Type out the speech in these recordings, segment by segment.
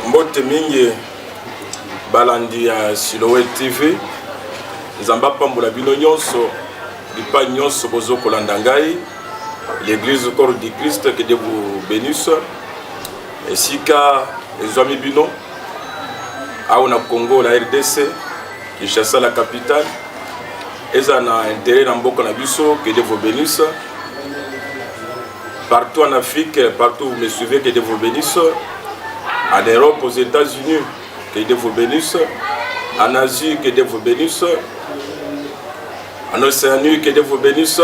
mbote mingi balandi ya silowe tv nzambe apambola bino nyonso bipai nyonso bozo kolanda ngai l'église corps du christ que dieu vous bénisse esika ezwami bino awa na congo la rdc kinshasa la capitale eza na intérêt na mboka na biso que Dieu vous bénisse partout en Afrique partout vous me suivez que Dieu vous bénisse en Europe aux États-Unis que Dieu vous bénisse en Asie que Dieu vous bénisse en Océanie que Dieu vous bénisse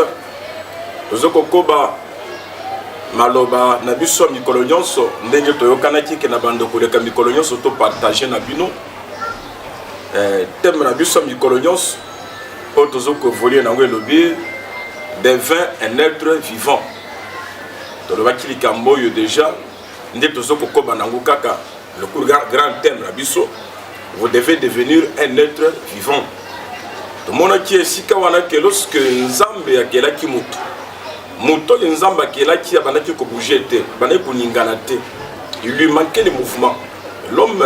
tozo kokoba maloba na biso ya mikolo nyonso ndenge toyokanaki ke na bando koleka mikolo nyonso topartage na bino eh, teme na biso ya mikolo nyonso oyo tozo koevolue nango elobi devin un être vivant tolobaki likambo oyo deja nde tozo kokoba nango kaka lokulu grand thème na biso vous devez devenir un être vivant tomonaki esika wana ke lorsque nzambe akelaki moto moto oyo nzambe akelaki abandaki kobouge te abandaki koningana te il lui manquait le mouvement l'homme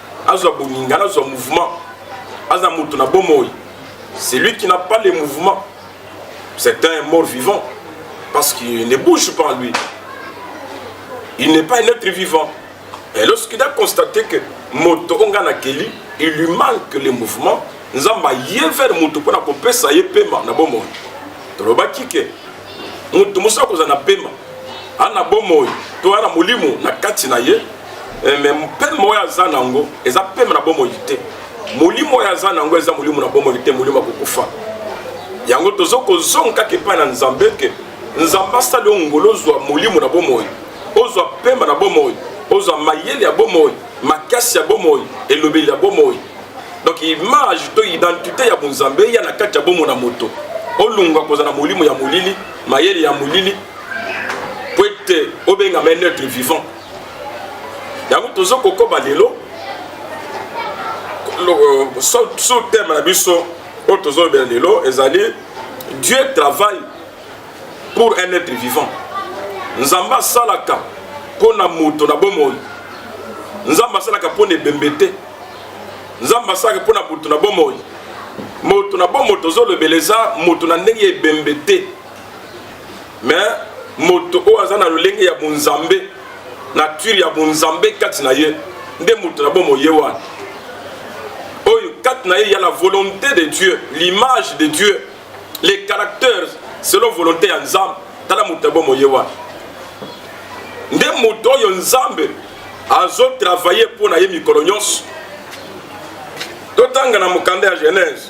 azwa boninga nazwa mouvement aza moto na bomoi celui qui n'a pas le mouvement c'est un mort vivant parce qu'il ne bouge pas en lui il n'est pas un être vivant et lorsqu'il a constaté que moto oyo ngai nakeli il lui manque le mouvement nzambe aye vers moto mpo na kopesa ye pema na bomoi tolobaki ke moto mosusu akozala na pema ana bomoi to ana molimo na kati na ye eh, me mpema oyo aza na yango eza mpema na bomoi te molimo oyo aza na yango eza molimo na bomoi te molimo ya kokufa yango tozo kozonga kaka epai na nzambe ke nzambe asali yo ngolo ozwa molimo na bomoi ozwa mpema na bomoi ozwa mayele ya bomoi makasi ya bomoi elobeli ya bomoi donc image to identité ya bonzambe eya na kati ya bomoi na moto olunga kozala na molimo ya molili mayele ya molili po ete obengama neutre vivant yango tozo kokoba lelo sous thème na biso oyo tozolobela lelo ezali dieu travaille pour un être vivant nzambe asalaka mpo na moto na bomoi nzambe asalaka mpo na ebembe te nzambe asalaka mpo na moto na bomoi moto na bomoi tozolobela eza moto na ndenge ya ebembe te mais moto oyo aza na lolenge ya bonzambe nature ya bonzambe kati na ye nde moto na bomo ye wana oyo kati na ye ya la volonté de dieu l'image de dieu les caractères selon volonté ya nzambe tala moto na bomo ye wana nde moto oyo nzambe azotravaille mpo na ye mikolo nyonso totanga na mokanda ya genèse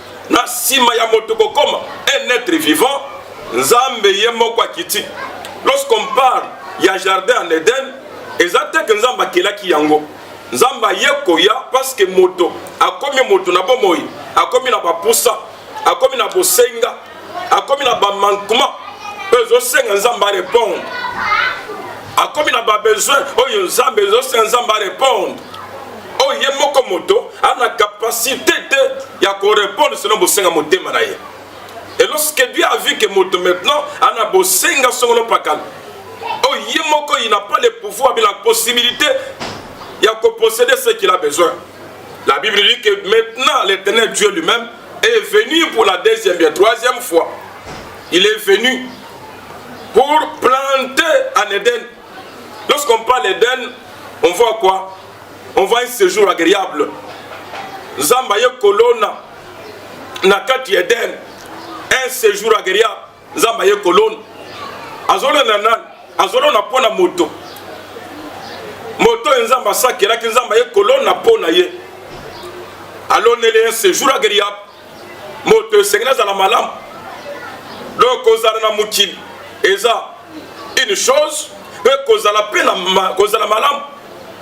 Na nsima ya moto kokoma un être vivant, Nzambe ye moko akiti. Lorsqu'on parle ya jardin en Eden, eza te ke Nzambe akelaki yango. Nzambe aye koya parce que moto akomi moto na bomoi, akomi na bapusa, akomi na bosenga, akomi na bamankuma oyo ezosenga Nzambe arepondre akomi na babesoin oyo nzambe ezosenga nzambe arepondre oyo oh, ye moko moto a na capacité te ya korepondre selon bosenga motema na ye et lorsque dieu a vu que moto maintenant ana bosenga songolo pakala oyo oh, ye moko il n'a pas le pouvoir mais la possibilité ya kopossede ce qu'il a besoin la bible dit que maintenant l'éternel dieu lui-même est venu pour la deuxième bien troisième fois il est venu pour planter en Éden Lorsqu'on parle d'Eden, on voit quoi On voit un séjour agréable. Zamba ye kolona na kati Eden, un séjour agréable. Zamba ye kolona. Azolo na nan, azolo na pona moto. Moto enzamba sakelaki nzamba ye kolona pona ye. Aloneli un séjour agréable. moto esengeli azala malamu donc kozala na mokili eza une chose mpe kozala mpe ma, kozala malamu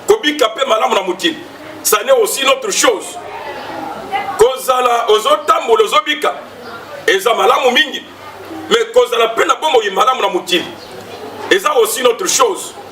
kobika mpe malamu na mokili ça n'est aussi une autre chose kozala ozotambola ozobika eza malamu mingi mais kozala mpe na bomoi malamu na mokili eza aussi une autre chose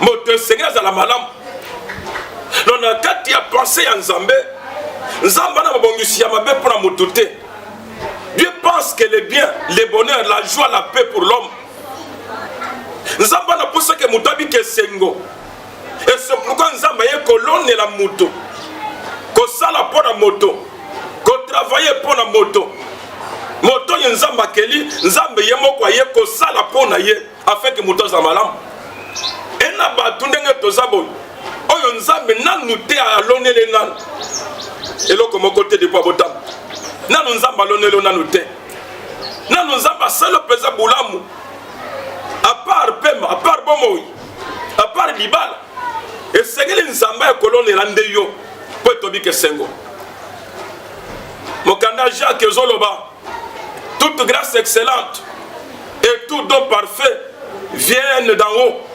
moto esengeli azala malamu no na kati ya pense ya nzambe nzambe ana mabongisi ya mabe mpo na moto te dieu pense que le bien le bonheur la joie la paix pour l'homme nzambe anapusaki moto abika esengo esopuka nzambe aye kolonela moto kosala mpo na moto kotravaye mpo na moto moto oyo nzambe akeli nzambe ye moko aye kosala mpo na ye afin que moto azala malamu e na bato ndenge toza boye oyo nzambe nanu te alonele nanu eloko moko te depo abotamu nanu nzambe alonelo nanu te nanu nzambe asala mpenza bolamu apart pema apart bomoi apart libala esengeli nzambe ya kolonela nde yo mpo etobika esengo mokanda jacques ezoloba Toute grâce excellente et tout don parfait viennent d'en haut.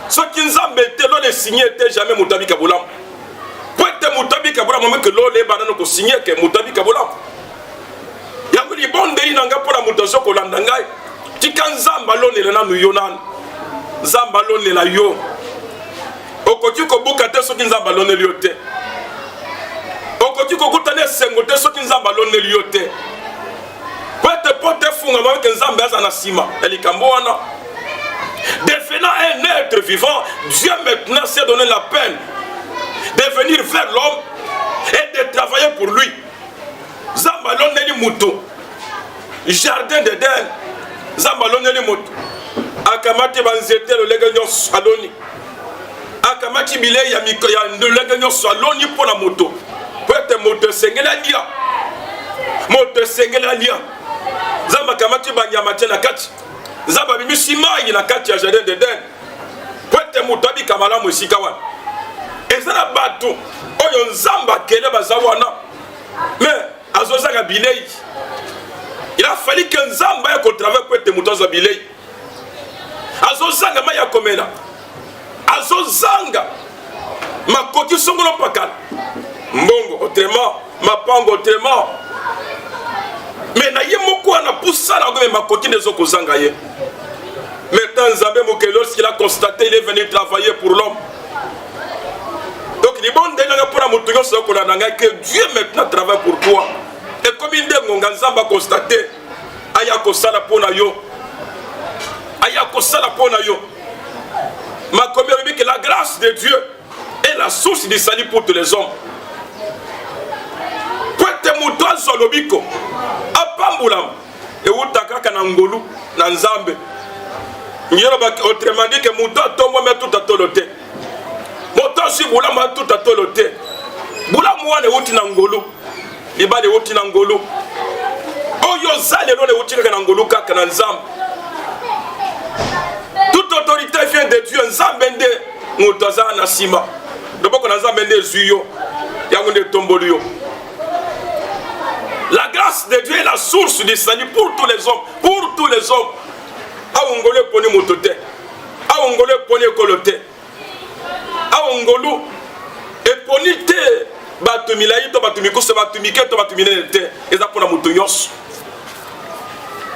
soki nzambe te lole esigne te jamais moto abika bolamu po ete moto abika bolamu meke lole ebanda no kosigne ke moto abika bolamu yango libondeli na ngai mpo na moto azo kolanda ngai tika nzambe alonela nanu yo nanu nzambe alonela yo okoki kobuka te soki nzambe aloneli yo te okoki kokutana esengo te soki nzambe aloneli yo te po ete porte efungama eke nzambe aza na nsima ya likambo wana devenant un être vivant dieu maintenant s'est donné la peine de venir vers l'homme et de travailler pour lui nzambe alondeli moto jardin d'eden nzambe alondeli moto akamati banzete lolenge nyonso aloni akamati bilei ya lolenge nyonso aloni mpo na moto mpo ete moto esengeli alia moto esengeli alia nzambe akamati banyama te na kati nzambe abimisi mai na kati ya jardin d'eden mpo ete moto abika malamu esika wana eza na bato oyo nzambe akele baza wana me azozanga bilei il a fallu que nzambe aya kotravaille mpo ete moto azwa bilei azozanga mai ya komela azozanga makoki songolo mpakala mbongo autrement mapango tema me na ye moko wana pusa na yango me makoki nde ezokozanga ye maintenant nzambe mokeli lorsqu'il a constaté il est venu travailler pour l'homme donc libondeli nanga mpo na moto nyonso akolanda ngai que dieu maintenant travaille pour toi ekomi nde ngonga nzambe aconstate aya kosala mpo na yo aya kosala mpo na yo makomi alobi ke la grâce de dieu et la source du salut pour tous les hommes po ete moto azwa lobiko apambolama ewuta kaka na ngolu na nzambe ngelobaki autrement dit ke moto atombwami atuta tolo te moto azwi bolamu atuta tolo te bolamu wana ewuti na ngolu libala ewuti na ngolu oyo oza lelo lewuti kaka na ngolu kaka na nzambe toute autorité vient de dieu nzambe nde moto aza na nsima loboko na nzambe nde ezwi yo yango nde etomboli yo la grâce de dieu est la source du salut pour tous les hommes pour tous les hommes awo ngolu eponi moto te awo ngolu eponi ekolo te awa ngolu eponi te bato milai to bato mikuse bato mike to bato minene te eza mpona moto nyonso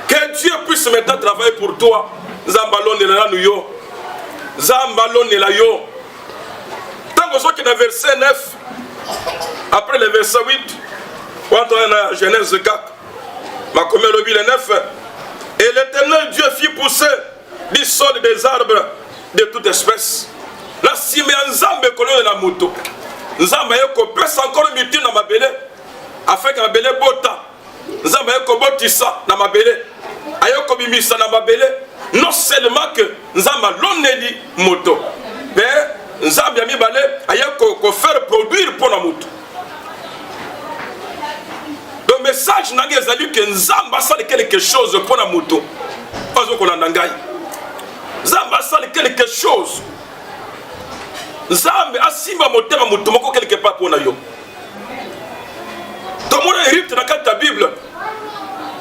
que dieu puisse maintenant travailler pour toi nzambe alonela nanu yo nzambe alonela yo ntango ozoki na verset 9 après le verset 8 wana toya na genèse 4 makomi alobi le 9 et l'éternel dieu fit pousser du sol des arbres de toute espèce na nsima ya nzambe kololela moto nzambe aye kopesa nkolo mitu na mabele afeke mabele bota nzambe aye kobotisa na mabele aye kobimisa na mabele non seulement que nzambe aloneli moto mpe nzambe ya mibale aye kofaire produire mpo na moto donc message na ngai ezali ke nzambe asali quelque chose mpo na moto azo kolanda ngai nzambe asali quelque chose nzambe asimba motema moto moko quelque part mpo na yo tomona erite na kati ya bible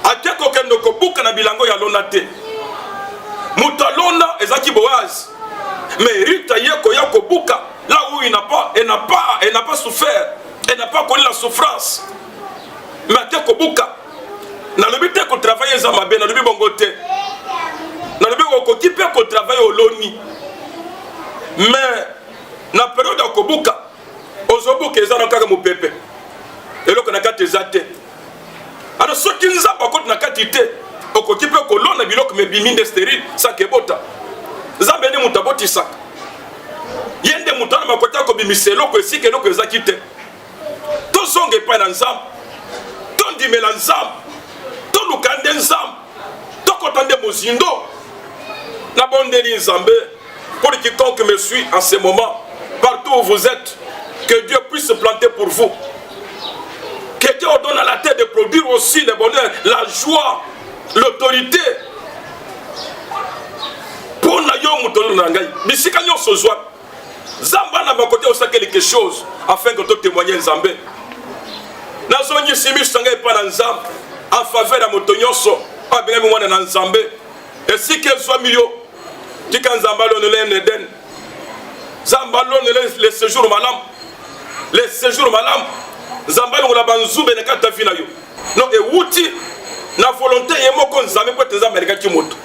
ake kokende kobuka na bilango ya lona te moto alona ezalaki boaze me erite aye koya kobuka là où il n'a pas, elle n'a pas, elle n'a pas souffert, elle n'a pas connu la souffrance. Mais te kobuka, nalobi te kotravaille eza mabe, nalobi bongo te. Nalobi okoki mpe kotravaille oloni. Mais na periode ya kobuka, ozobuka eza na kaka mopepe. Eloko na kati eza te. alors soki nzambe akoti na kati te okoki mpe kolona biloko mebimi nde sterile saka ebota nzambe nde moto abotisaka ye nde moto wana makoki akobimisa eloko esika eloko ezaki te tozonga epai na nzambe tondimela nzambe toluka nde nzambe tokota nde mozindo nabondeli nzambe Pour quiconque me suit en ce moment, partout où vous êtes, que Dieu puisse se planter pour vous. Que Dieu vous donne à la tête de produire aussi le bonheur, la joie, l'autorité. Pour na yo mutono na ngai, bisika nyonso zwa. Zamba na bakote osaka quelque chose afin que to témoigner Nzambe. Nazongisi miso na ngai epai na Nzambe en faveur ya moto nyonso abengami mwana na Nzambe. esika ezwami yo tika nzambe alonela ene edene nzambe alonela le séjour malamu le séjour malamu nzambe alongola banzube na kati ya vi na yo no ewuti na volonté ye moko nzambe mpo ete nzambe alingaki moto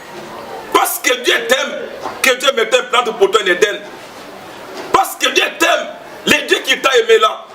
parce que dieu t'aime que dieu mette un plante pour toi en eden parce que dieu t'aime le dieu qui t'a aimé là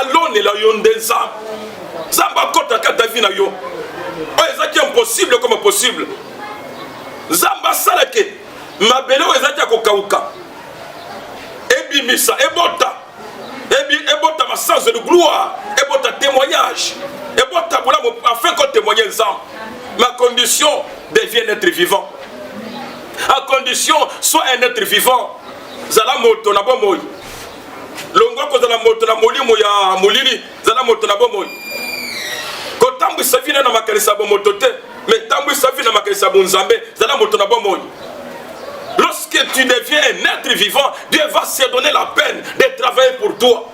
alonela yo nde nzambe nzambe akota kata vi na yo oyo ezalaki impossible ekoma possible nzambe asalaki mabele oyo ezalaki ya kokauka ebimisa ebota ebota masanzo de gloire ebota témoignage ebota bolamu afin kotémoigne nzambe ma condition devient un être vivant à condition soit un être vivant zala moto na bomoi longwa kozala moto na molimo ya molili zala moto na bomoi kotambwisa vina na makanisi ya bomoto te me tambwisa vina na makanisi ya bonzambe zala moto na bomoi lorsque tu deviens un être vivant dieu va se donner la peine de travailler pour toi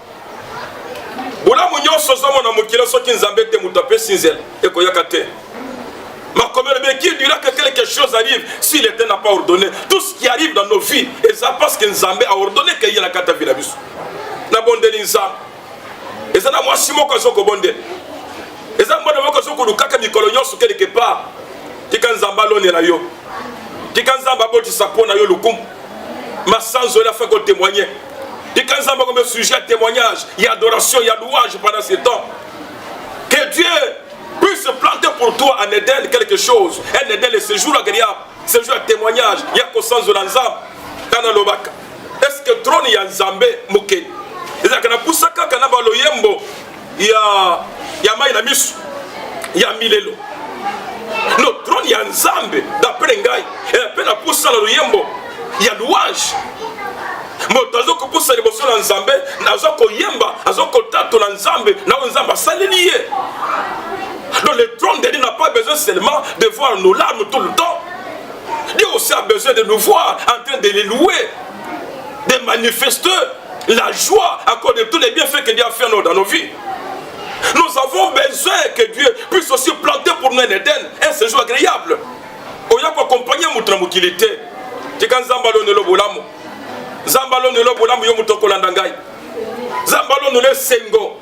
bolamu nyonso ozomona mokili soki nzambe te moto apesi nzela ekoyaka te makomi olobi qui dira que quelque chose arrive si l'état n'a pas ordonné tout ce qui arrive dans nos vies eza parce que nzambe a ordonné que eyela kata vi na biso nabondeli nzambe eza na mwasi moko azo kobondela eza mwana moko azo kolukaka mikolo nyonso quelque part tika nzambe alonela yo tika nzambe abotisa mpo na yo lokumu masanzo ela fe kotemoigne tika nzambe akombe sujet ya témoignage ya adoration ya louange pendant ce temps que dieu Puis se planter pour toi en Eden quelque chose. En Eden le séjour agréable, séjour à témoignage, ya kosanzo na Nzambe. Kana lobaka. Est-ce que trône ya Nzambe mokeli? Ezalaka na pusa kaka na baloyembo ya ya mai na miso ya milelo no trone ya nzambe dapre ngai eh, mpe na pusa na loyembo ya louange moto aza kopusa liboso na nzambe aza koyemba aza kotatola nzambe na oyo nzambe asaleli ye donc le trône de dieu n'a pas besoin seulement de voir nos larmes tout le temps dieu aussi a besoin de nous voir en train de les louer de manifester la joie à cause de tous les bienfaits que dieu a fait dans nos vies nous avons besoin que dieu puisse aussi planter pour nous un Éden un séjour agréable oya koakompagne moto na mokili te tika nzambe alonelo bolamu nzambe alonelo bolamu yo moto okolanda ngai nzambe alonelo esengo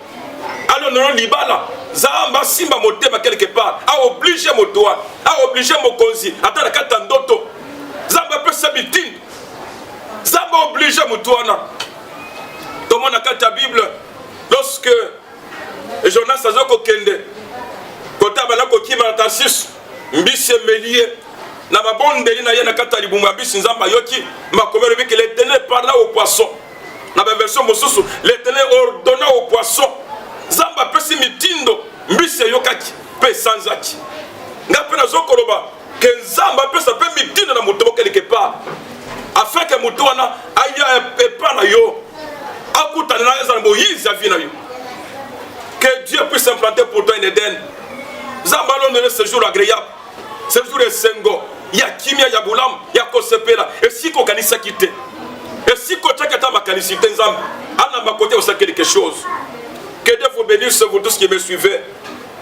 alonelo libala nzambe asimba motema quelque part aoblige moto wana aoblige mokonzi ata na kati ya ndoto nzambe apesa mitindo nzambe aoblige moto wana tomona kati ya bible lorsque jonas aza kokende kota banda kokima na tarsis mbisi emeli ye na babondeli na ye na kati ya libumu ya mbisi nzambe ayoki makomi alobi ke letene parla au poisson na baversion mosusu letene ordonna au poisson nzambe apesi mitindo mbisi eyokaki mpe esanzaki ngai mpe nazokoloba que nzambe apesa mpe mitinda na moto moko quelque part afin que moto wana aya epa na yo akutana na eza na moyizi ya vie na yo que dieu puisse implanter pour toi en eden nzambe alonele ce jour agréable ce jour esengo ya kimia ya bolamu ya kosepela esika okanisaki te esika otyaki ata makanisi te nzambe anamba kote osaki quelque chose que dieu vous bénisse vous tous qui me suivez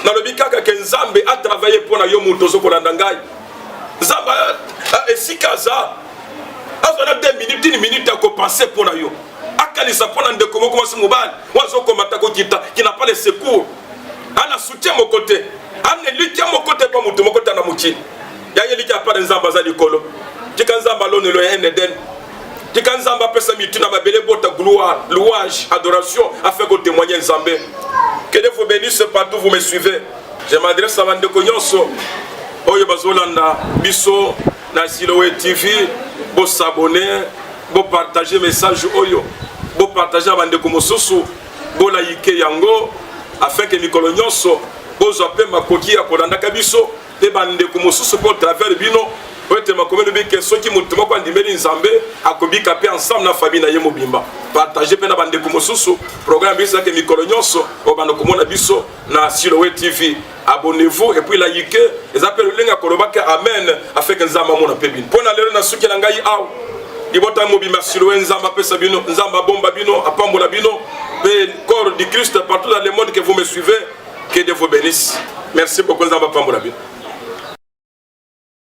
nalobi kaka ke nzambe atravaille mpo na yo moto ozo kolanda ngai nzambe esika aza azwa na 2 minute tini minute ya kopense mpo na yo akanisa mpo na ndeko moko mwasi mobali oyo azokomata kokita kina pa le secours ana soutien moko te ana elikya moko te mpo moto moko te na mokili ya elikya apare nzambe aza likolo tika nzambe alonelo ya eneden tika nzambe apesa mitu na mabele bota gloire louange adoration afin ko témoigner nzambe que dieu vous bénisse partout vous me suivez je m'adresse à bandeko nyonso oyo bazolanda biso na siloe tv bosabone bopartage message oyo bopartage na bandeko mosusu bolayike yango afin ke mikolo nyonso bozwa mpe makoki ya kolandaka biso mpe bandeko mosusu mpo travers bino mpo ete makomi elobi ke soki moto moko andimeli nzambe akobika mpe ensemble na famille na ye mobimba partage mpe na bandeko mosusu programme biso ezalaki mikolo nyonso obanda komona biso na silowe tv abonnez-vous et puis like eza mpe lolenge ya kolobaki amen afeke nzambe amona mpe bino mpo na lelo na suki na ngai awa libota mobimba silowe nzambe apesa bino nzambe abomba bino apambola bino mpe corps du christ partout dans le monde que vous me suivez Que Dieu vous benisse. Merci beaucoup, Nzamba Pambola.